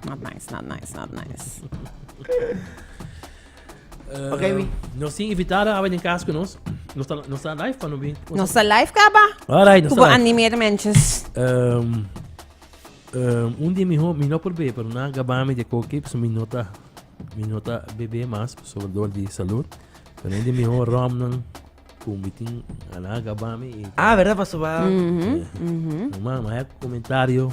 Not nice, not nice, not nice. Ok, Wi. Nos tin invitada awe den kas ku nos. Nos ta nos ta live pa no bin. Nos ta live kaba. Alright, nos ta live. animeer menches. Um, um, un dia miho mi no por be, pero na gabami de koki, so mi nota mi nota bebe mas, so dor di salud. Pero un dia miho rom nan ku mi tin ana gabami. Ah, verdad, paso ba. Mm -hmm. Mm -hmm. Mama, hay comentario.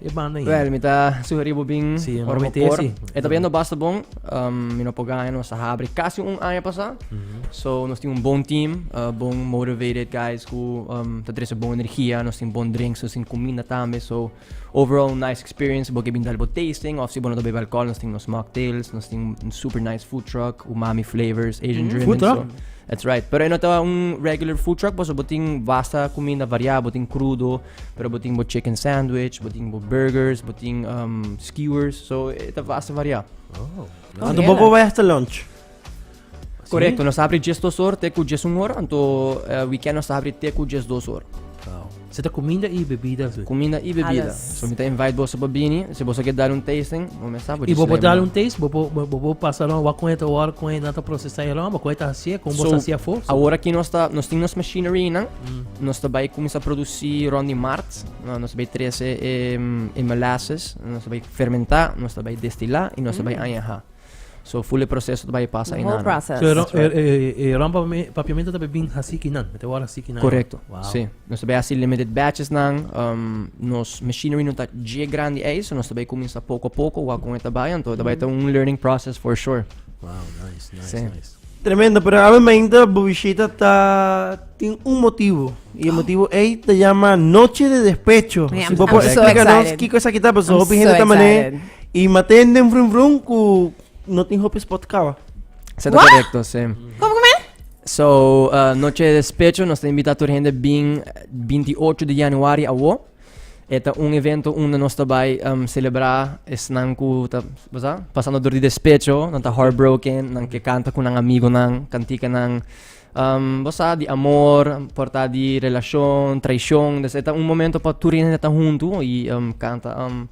E banda in. Wel, mi ta sugeri bo bin sí, ora bo por. E ta bendo basta bon. Um, mi no po gana, nos ta habri casi un año pasa. Mm -hmm. So, nos tin un bon team, uh, bon motivated guys ku um, ta trece bon energia, nos tin bon drinks, nos tin comida tambe. So, overall nice experience. Bo ke bin dal bo tasting, of si bo no ta bebe alcohol, nos tin nos mocktails, nos tin un super nice food truck, umami flavors, Asian mm -hmm. Food truck? So, That's right. Pero e no ta un regular food truck, paso bo tin vasta comida variada, bo tin crudo, Pero bo tin bo chicken sandwich, bo tin bo burgers, bo tin um, skewers, so e ta basta variá. Oh, Anto bo bo weg te lunch. Correcto, nos abri 10 dos horas, te cu 10 un hora, anto eh, weekend nos abri te cu 10 dos horas. Wow. Ze ta comida i bebida zo. Comida i bebida. Alles. So mi ta invite bosa pa bini, si bosa ke dar un tasting, mo me sa bo I bo bo dal un taste, bo bo bo bo bo pasa long wa kon eta war kon eta ta procesa e long, bo kon eta hasie, kon bo So, hasie fo. Ahora ki nos ta, nos tin nos machinery nan, Nos ta bai kuminsá produsí rònt di mart. Nos ta bai trese e molasses, nos ta bai fermentá, nos ta bai destilá i nos ta bai añahá. So ful e proseso ta bai pasa ayina. Whole process. So e rònt papiamentu ta bai bin hasí kinan, mester wòrdu hasí kinan. Korekto, si. Nos ta bai hasi limited batches nan. Nos machinery no ta dje grandi ei, so nos ta bai kuminsá poko a poko wak kon e ta bai. Anto e ta bai ta un learning process for sure. Wow, nice, nice, nice. Tremendo, pero obviamente bo bishita ta tin un motivo. Y el motivo ey te llama Noche de Despecho. Yeah, I'm- si bo I'm por so explica nos excited. kiko esa kita, pues I'm hopi so gente ta mané excited. y maten den vrum vrum ku no tin hopi spot kaba. Se ta What? correcto, sí. Como come? So, uh, Noche de Despecho, nos ta invita tur hende bin 28 di januari awo. E ta un evento unda nos ta bai selebrá esnan ku ta pasando dor di despecho, nan ta heartbroken, nan ke kanta ku nan amigonan kantikanan bo sa di amor, por ta di relashon, traishon. Pues e ta un momento pa tur hende ta huntu i kanta.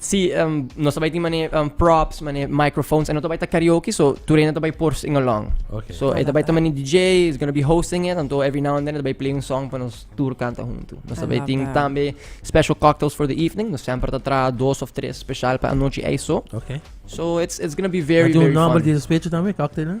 si nos ta bai tin mane props mane microphones e no ta bai ta karaoke so tur hende ta bai por sing along okay. so e ta bai ta mane DJ is gonna be hosting it anto every now and then e ta bai play un song pa nos tur kanta huntu nos ta bai tin tambe special cocktails for the evening nos semper ta traha dos of tres special pa anochi ei so okay. so it's it's gonna be very very fun.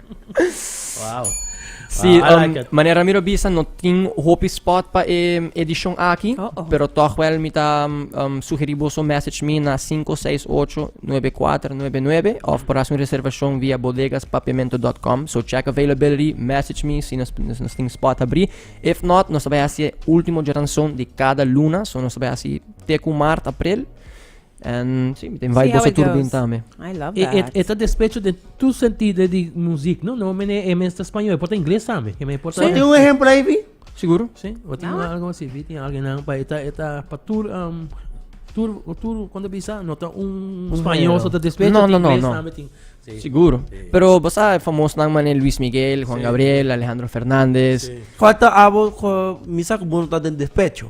Wow. Sí, wow, um, like manera miro bisa no tin hopi spot pa e um, edishon aki, oh, oh. pero toch wel mi ta um, um sugeri boso message mi na 568-9499 of por hacer un reservacion via bodegaspapemento.com. So check availability, message me si nos, nos, nos tin spot abri. If not, nos vai hacer último geranson de cada luna, so nos vai hacer teku mart, april. And si, mi ta invite boso tur bin tambe. I love e, e, that. E, e ta despecho de tu sentido di muziek, no? No, mene, e mens ta español, e por ta ingles tambe. E mene por ta... Tem un ejemplo aí, Vi? Seguro? Si, o tem ah. algo assim, Vi, tem alguém não, pa, e ta, e ta, pa tur, um, tur, tur, quando bisa, no ta un espanhol, só ta despecho, no, no, no, inglês, no. Tambe, tem, sí. Seguro. Sí. Pero, você é famoso, não, mané, Luiz Miguel, Juan sí. Gabriel, Alejandro Fernandes. Sí. Quanto abo, misa, que bom tá dentro despecho?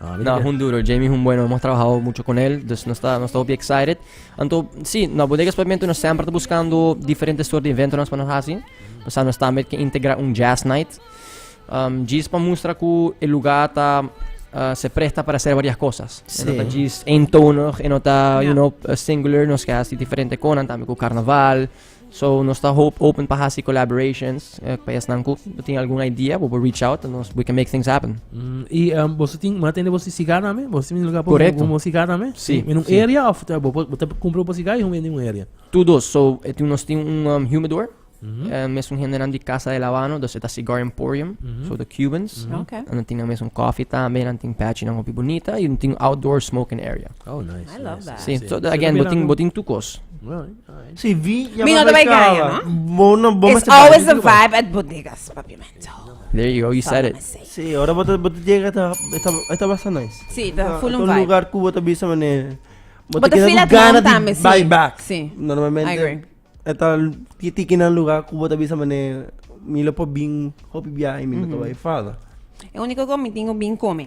Na Hunduro, Jamie Humbueno, nos a trabahau mucho con el, dus nos ta hopi excited. Anto, si, na Bodegas Pavimento nos semper ta buscando diferente soort di eventonan pa nos haci. Pasa nos tambe ke integra un jazz night, um, djis pa mustra cu e lugar ta uh, se presta para hacer varias cosas. E no ta djis eentonig, e no ta, you know, singular, nos ke haci diferente conan tambe cu carnaval, So nos ta hope open pa hasi collaborations eh, pa esnan ku bo tin algun idea, bo bo reach out to nos, we can make things happen. Mm, y um, vos tin ma tende vos siga name, vos tin lugar Correcto. como siga name. Sí, En un sí. area of ta bo bo ta compra vos siga y un en un area. Tu dos, so eh, tin- nos tin un um, humidor, eh, mes un hendenan di Casa del Habano, dus eta Cigar Emporium, so the Cubans. Ok. En dan tin dan mes un coffee tambe, dan tin patchy dan hopi bonita, y un tin outdoor smoking area. Oh, nice. I love nice. that. Sí, Sí. so So again, bo también tin, dan- bo tin tu kos. Alright. Si vi ya Mi no bai gaya, no? Bo no bo It's always the vibe at bodegas, papiamento. There you go, you said it. Si, ora bo ta bo ta llega ta ta basta nice. Si, ta full un vibe. lugar ku bo ta bisa mane. Bo ta feel at home tame, si. Bye back. Si. Normalmente. I agree. Eta tiki na lugar ku bo ta bisa mane mi lo po bin hopi biahe mi no ta bai fada. E único ku mi tin ku bin kome.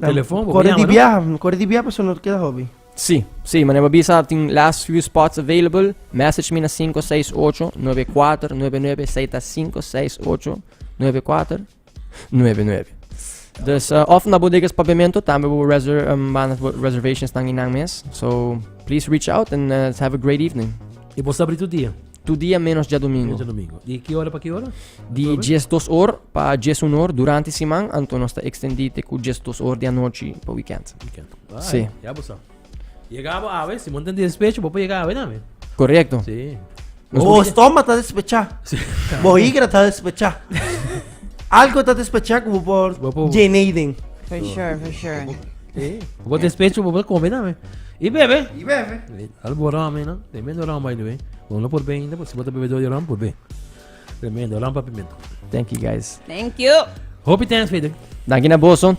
Telefon, bo Kore di llama, no? biaha, mi kore di biaha paso no keda hopi. Sí, sí, mané bo bisa tin last few spots available. Message mi na 568-9499, sa y ta 568-9499. Dus, eh, of na bodegas papiamento, tambe bo reser um, banda bo reservations tan inan mes. So, please reach out and eh, let's have a great evening. E bo sabri tu dia. Tur dia ménos djadumingu. Ménos djadumingu. Di ki ora pa ki ora? Di djes dos or pa djes un or durante siman, anto nos ta ekstendí te ku djes dos or di anochi pa wikènt. Wikènt. Sí. Ya bo sa. Yega bo awe, si bo no tin despecho, bo por yega awe tambe. Korekto. Sí. Bo stoma ta despechá. Bo higra ta despechá. Algo ta despechá ku bo por djené den. For sure, for sure. Bo despecho bo bra come dame. Y bebe. Y bebe. Al bo rama no. Tremendo rama by the way. Bon lo por bende, si bo te bebe do de rama por be. Tremendo rama pimento. Thank you guys. Thank you. Hopi thanks Peter. Danki na boso.